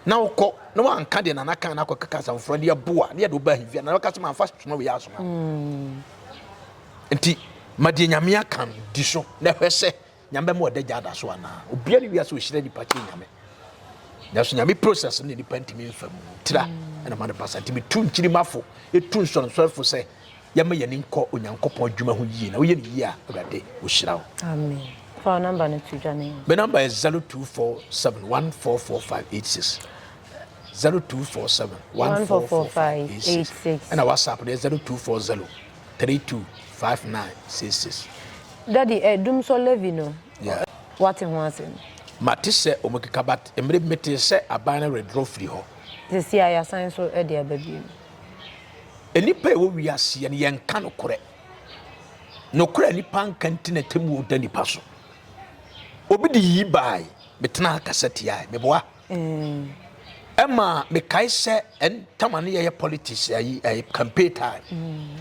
Na wokɔ, na wanka deɛ nana kan na akɔkeka asɛm foforɔ deɛ boa, ne yɛde wobaa hivia, na wɔka sɛ mamfa soma wei asoma. Mm. Nti, ma deɛ nyame aka no di so, na hwɛ sɛ Nyame bɛma ɔda gya ada so anaa? Obiara ne wiase ɔhyira nipa kyɛn Nyame. Nanso Nyame process ne nipa ntumi mfa mu. Tira ɛna ma no basa. Nti metu nkyirimafo, ɛtu nsɔrensɔrefo sɛ yɛma yɛn ani nkɔ Onyankopɔn adwuma ho yie. Na woyɛ no yie a, Awurade ɔhyira wo. Amen. Fa wo namba no to dwa ne. Me namba yɛ 0247144586. 0247144586. Ɛna WhatsApp no yɛ 0240. three two five nine six six. Daddy eh dum sɔ Levi no Yeah. ɔ wate ho asɛm. Mate sɛ ɔmo keka but mmere bi metee sɛ aban no redrɔ firi hɔ. Sɛsi a yasan nso de aba biom. Nnipa a ɛwɔ wiaseɛ no yɛnka nokorɛ. Nokorɛ a nipa nka nti na atemmuo da nipa so. Obi de yii baae, metenaa ha kasa tiae. Meboa. Eh. Ɛma mekae sɛ ɛntama no yɛyɛ politics ayi ɛyɛ campaign time. Mm.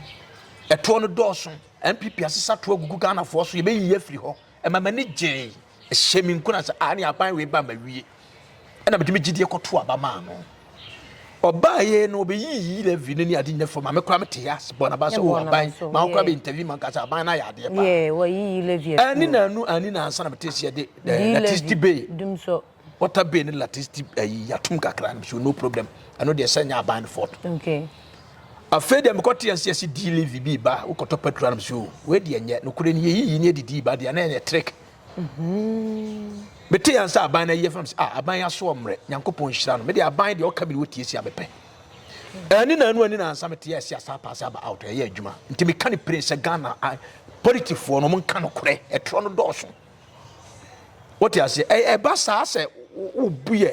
Ɛtoɔ no dɔɔso. NPP asesa toɔ gugu Ghanafoɔ so yɛbɛyi yɛ afiri hɔ. Ɛma m'ani gyee. Ɛhyɛ me nkuna sɛ ah ne aban wei ba ma wie. Ɛna mede me gyidie kɔto aba maa no. Ɔbaa yɛ no ɔbɛyi yi levy no ne ade nyina fam. Ame kora mete yɛ ase bɔ na ba sɛ o oh, aban ma wokora bɛ interview ma nka sɛ aban no ayɛ adeɛ paa. Ɛne na anu ani na ansa na mete sɛ yɛde eh, na tisti bay. Water bay ne lattice ti ayi yatum kakra no so no problem ɛno deɛ sɛ nyɛ aban no fort okay afei deɛ mekɔ te ase ase di live bi ba wokɔtɔ petrol no so wei deɛ nyɛ nokorɛ ne yɛyiyi ne adidi ba deɛ na ɛyɛ trick mete yɛn sɛ aban no ayɛ fam sɛ aban asoɔ mmerɛ nyankopɔn nhyira no mede aban deɛ ɔka bi ne wɔtie si a mepɛ ɛne na ɛno ani na ansa mete yɛ asi asa paase aba out ɛyɛ adwuma nti meka ne pere sɛ ghana politifoɔ no ɔmo nka nokorɛ ɛtorɔ no dɔɔso wote aseɛ ɛba saa sɛ wobu yɛ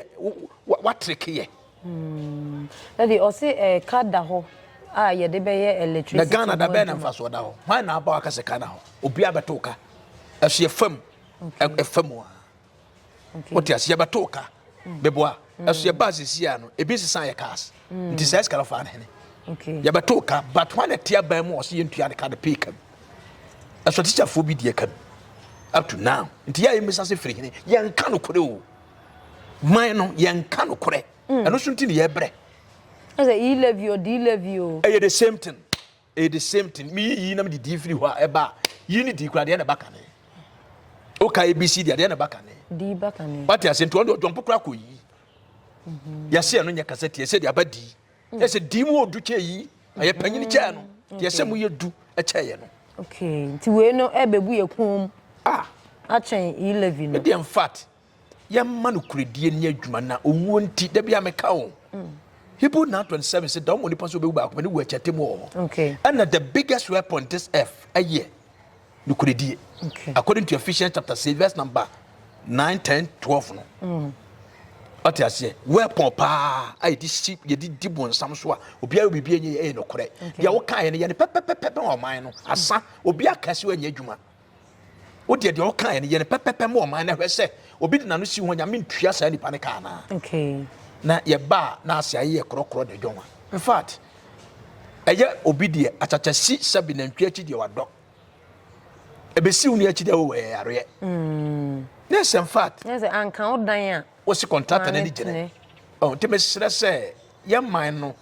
watreke yɛ hmm. ɛde ɔse ɛka da hɔ a yɛde bɛyɛ electricity na ghana da bɛɛ na mfasoɔ da hɔ hwan na aba waka sɛ ka na hɔ obi abɛto ka ɛso yɛfam ɛfam a wote aseɛ yɛbɛto ka bɛboa ɛso yɛba asɛsi a no ebi sesa yɛ cars mm. nti saa sika no fa ne hene yɛbɛto ka but wane te aban mu ɔsɛ yɛntua ne ka no pay ka mu ɛsɔ tikyafoɔ bi deɛ ka mu up to now nti yɛ a yɛmmisa sɛ firi hene yɛnka nokorɛ o man no yɛnka nokorɛ mm. ɛno so nti ne yɛbrɛ ɛyɛ the same thing Ɛyɛ the same thing. Me yi yi na me de di firi hɔ a ɛba a yi ne di kura deɛ na ɛba kane. O ka ABC deɛ deɛ na ɛba kane. Di ba kane. Wate ase nti ɔno deɛ ɔdɔmpo kura kɔ yi. Mhm. Yɛsɛ ɛno nyɛ kasa tie sɛ deɛ aba di. Mm. Yɛsɛ di mu ɔdu kyɛ yi. Ɛyɛ panyini kyɛ no. Mm. Yɛsɛ mu yɛ du kyɛ yɛ no. Okay. Nti wei no ɛbɛbu yɛ kɔn mu. Ah. Akyɛn yi levy no. Ɛdeɛ in fact. Yɛmma nokorɛdie nni adwuma na owuo nti da biara meka wo. Mm. Hebrew 9:27 sɛ dɔm onipa so bɛwu baako pɛ ne wu akyɛ atemmu wɔ hɔ. Okay. Ɛna the biggest weapon this earth ɛyɛ nokorɛdie. Okay. According to Ephesians chapter 6 verse number 9, 10, 12 no. Mm. ɔte aseɛ weapon paa a yɛde si yɛde di bonsam so a obiara biribi ɛnyɛ ɛyɛ nokorɛ deɛ wokaeɛ no yɛ no pɛpɛpɛpɛ bɛn ɔman no asa obi aka si wɔnyɛ adwuma Wodeɛ deɛ ɔkaeɛ no yɛ no pɛpɛpɛ ma ɔman na hwɛ sɛ obi de n'ano si ho nyame ntua saa nipa no ka anaa okay. na yɛba a na ase ayɛ korɔkorɔ na ɛdwɔnwa in fact ɛyɛ obi deɛ akyakyasi sɛbi nantwi akyi deɛ wadɔ ɛbɛsi wo ne akyi deɛ wowɔ yɛ yareɛ mm. yes in fact yes, anka wo dan a Wosi kɔntrata n'ani gyina. Ɔn nti mesrɛ sɛ yɛ man no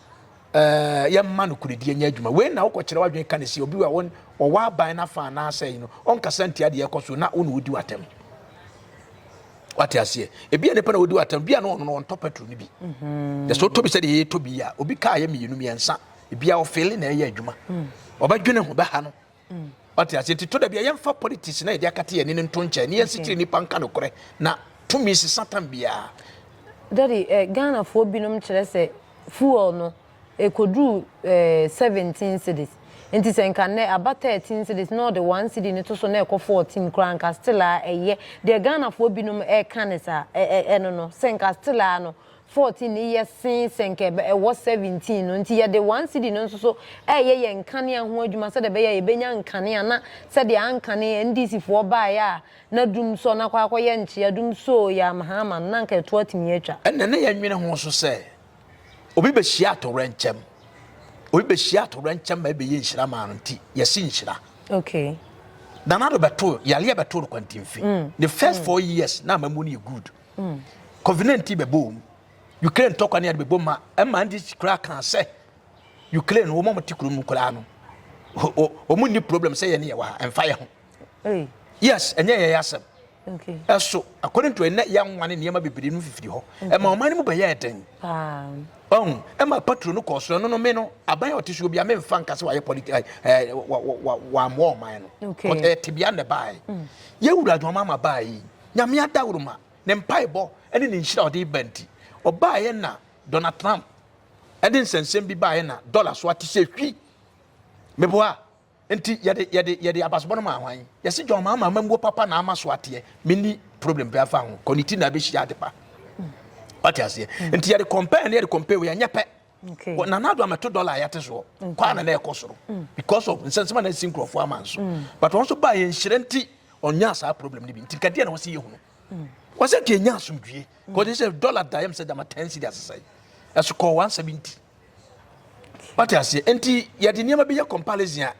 ɛɛ yɛ mma no kuredie nyɛ adwuma. Wei na wokɔkyerɛ w'adwene ka ne si obi a wɔn ɔwɔ aban n'afa anaasɛ yi no ɔnkasa ntia deɛ ɛkɔ so na wo na wodi w'atɛm. Wate aseɛ ebi a nipa na wodi w'atɛm bi a na ɔno no ɔntɔ petrol no bi. Yɛ sɛ ɔtɔ bi sɛ deɛ yɛtɔ bi a obi kaa yɛ mmienu mmiɛnsa ebi a ɔfeele na ɛyɛ adwuma. Ɔbɛdwene ho bɛha no. Wate ase? Nti to da bia yɛmfa politics na yɛde akate yɛn ani no nto nkyɛn ne yɛnsi kyerɛ nipa nka nokorɛ na tumi si satan biara. Daddy, eh, Ghanafoɔ binom kyerɛ sɛ fuel no ɛkɔduru eh, 17 cedis. Nti sɛ nka nnɛ aba 13 cedis na ɔde 1 cedi no to so na ɛkɔ 14 koraa nka still a ɛyɛ. Deɛ Ghanafoɔ binom ɛka ne saa, ɛ, ɛ, ɛno no, sɛ nka still a no, 14 no yɛ sen sɛ nka ɛwɔ 17 no, enti yɛde one cedi no nso so reyɛ yɛn nkanea ho adwuma sɛdeɛ ɛbɛyɛ a yɛbɛnya nkanea na sɛdeɛ ankane NDC foɔ baeɛ a na dum sɔ na kɔ akɔyɛ nkyea dum soo yɛ amha ama no na anka ɛtoɔ atumi atwa. Ɛnna na yɛnnwene ho nso sɛ obi bɛhyia atowerɛnkyɛm, obi bɛhyia atowerɛnkyɛm ma ɛbɛyɛ nhyira maa no nti yɛse nhyira. Okay. Nana do bɛtoo yareɛ bɛtoo no kwantinfi. Mm. Ne first mm. four years na amamu no yɛ good. Mm. Covenant yi bɛbɔ wɔn. Ukraine tɔkwa ne ade bɛbɔ ma ɛma ndi koraa kan sɛ Ukraine wɔn a wɔte kurom no koraa no wɔn ni problem sɛ yɛn ne yɛ wɔ ha ɛmfa yɛ ho. Yes, ɛnyɛ yɛ yɛ asɛm. Okay. Ɛso according to ɛnɛ yɛ nwa ne nneɛma bebree no fifiri hɔ. Mm-hmm. Ɛma ɔman no mu bɛyɛ ɛdɛn. Ɔn ɛma patro no kɔɔ soro no no me no aban a ɔte so obi a memfa nka sɛ wayɛ politi ɛɛ eh, eh, wammoa ɔman no. Okay. Ɛtebea na ɛbaeɛ. Mm. Yɛwura adwuma ama baeɛ yi. Nyame adaworoma, ne mpaebɔ ne ne nhyira a ɔde reba nti, ɔbaeɛ na Donald Trump de nsɛnsɛm bi baeɛ na dɔla so ate sɛ hwi. Meboa nti yɛde yɛde yɛde abasebɔ no maa hwan? Yɛsi John Mahama amammuo papa na ama so ateɛ. Menni problem bi afa ho. Kɔ ne ti na abɛhyia adepa. Wate aseɛ? Nti yɛde compare ne yɛde compare wei ɛnyɛ pɛ. Okay. Well, Nana Addo ameto dollar ayate soɔ. Okay. Kwaa na na ɛkɔ soro. Mm. Because of nsɛnsɛm a na ɛsi nkurɔfoɔ ama nso. Mm. But wɔn nso baa yɛn nhyerɛ nti ɔnyaa saa problem no bi. Nti nkadeɛ na wɔsi yɛ hunu. Mm. Wɔsɛ nka ɛnya asomdwie. Mm. Kɔde sɛ dollar da yɛm sɛ dama ten cedi asesɛe. Ɛso kɔɔ one seventy. Wate aseɛ. Nti yɛde nneɛma bi yɛ comparison a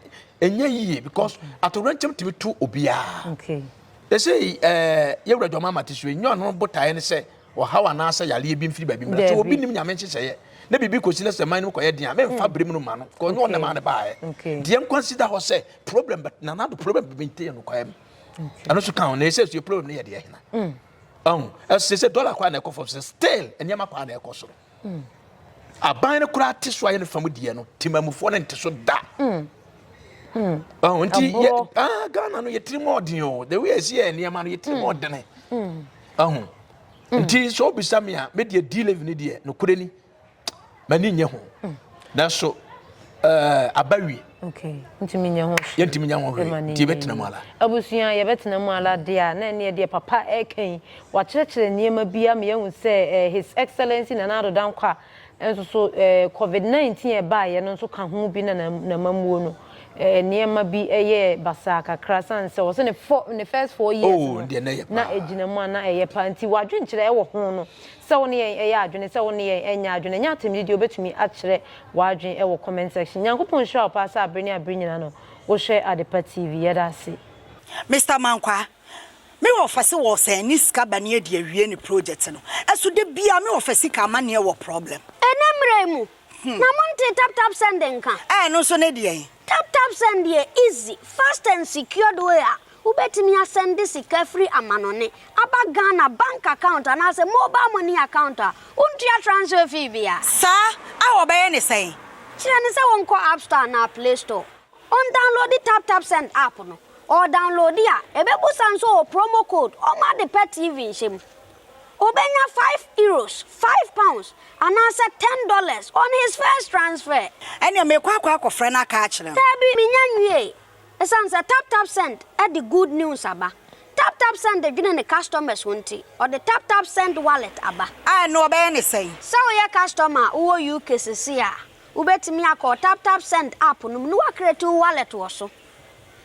ɛnyɛ yie because atowrɛnkyɛm tumi to obiara. Okay. Ɛsɛ ɛɛ eh, yɛwura dwama amate so ɛnyɛ ɔno botaeɛ ne sɛ ɔhaw anaasɛ yareɛ bi mfiri baabi mmra. Sɛ obi nim Nyame nhyehyɛeɛ na biribi kɔsi na sɛ man no mu kɔyɛ den a, memfa mm. bere mu no ma no. Kɔ nyɛ ɔnam a ne baeɛ. Deɛ nkwa si da hɔ sɛ problem but nana do problem bi nte yɛ no kwaɛ mu. Ɛno so ka ho na ɛsɛ sɛ problem no yɛ deɛ hena. Ɔho ɛsɛ sɛ dɔla kɔ a na ɛkɔ fam sɛ still nneɛma kɔ a na ɛkɔ soro. Aban no koraa te so ayɛ no fam deɛ no, temamufoɔ no nte so da. Ɔho nti yɛ ah Ghana no yɛtiri mu ɔden o, the way ɛsi yɛ nneɛma no yɛtiri mu ɔdene. Ɔho nti sɛ ɔbisa mi a, mi deɛ D-Levy ni deɛ, no kure ni, mani nye ho. Nanso ɛɛ aba wie. Okay, ntumi nyɛ ho hwee. Yɛntumi nyɛ ho hwee, nti yɛbɛtena mu ara. Abusua, yɛbɛtena mu ara deɛ a, na ɛneɛ deɛ papa ɛreka yi, wakyerɛkyerɛ nneɛma bi ama yɛahu sɛ ɛɛ His Excellency Nana Addo Dankwa nso so ɛɛ Covid 19 a ɛbaeɛ no nso ka ho bi na n'amammuo no ɛɛ nneɛma bi yɛɛ basaa kakra sane sɛ wɔse ne fɔ ne first four years no na ɛgyina mu a na ɛyɛ paa nti w'adwenkyerɛ ɛwɔ ho no Sɛ wo ne yɛn yɛ adwene sɛ wo ne yɛn nyɛ adwene nyɛ atemde deɛ wobɛtumi akyerɛ w'adwene wɔ comment section. Nyankopɔn nhyira wo paa sɛ abere ne abere nyinaa no wohwɛ Adepa TV. Yɛda ase. Mister Mankwaa, me office wɔ sɛn ne sika ba ne adi awie ne project no, ɛso da biaa me office ka amaneɛ wɔ problem. Ɛnɛ mmra yi mu, Na montee tap tap send nka? Ɛɛ ɛno nso ne deɛn? Tap tap send yɛ easy, fast and secured way a wobɛtumi asɛnde sika firi amanɔne aba Ghana bank account anaasɛ mobile money account a wontua transfer fee biara. Saa a wɔbɛyɛ ne sɛn? Kyerɛ no sɛ wɔnkɔ app store anaa play store, ɔndownloadi tap tap send app no, ɔredownloadi a ɛbɛbusa nso ɔwɔ promo code, ɔmma ade pa TV nhyɛ mu. Obenya five euros, five pounds, anaasɛ ten dollars on his first transfer. Ɛnneɛ meekɔ akɔ akɔfrɛ no aka akyerɛ no. Daabi, mennya nwiei. Esiane sɛ TapTapSend de good news aba, TapTapSend dwene ne customers ho nti, ɔde TapTapSend Wallet aba. A ɛno wɔbɛyɛ no sɛn? Sɛ woyɛ customer a wowɔ UK seesei a, wubetumi akɔ TapTapSend app no mu na woacreate wo wallet wɔ so.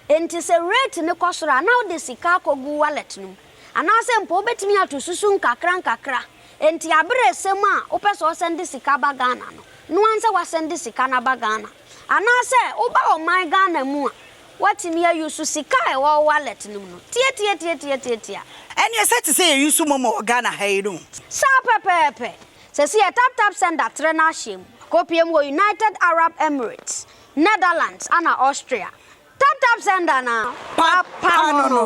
Enti sɛ rate no kɔ soro a, na wode sika akɔgu wallet no mu. Anaasɛ mpo wobɛtumi ato susu nkakrankakra. Enti aberɛ resɛm a wopɛ sɛ ɔsɛnde sika ba Ghana no, noa nsɛ wasɛnde sika no aba Ghana. Anaasɛ woba ɔman Ghana mu a, woatumi a use sika a ɛwɔ wo wallet no mu no. Tiatiatiatiatiatia. Ɛneɛ sɛ te sɛ yɛ use momo wɔ Ghana ha yi no. Saa pɛpɛɛpɛ. Sɛsi yɛ taptapsend atrɛ no ahyɛm. Akɔpie mu wɔ United Arab Emirates. Netherlands ana Austria. Tap tap sender na papa no no.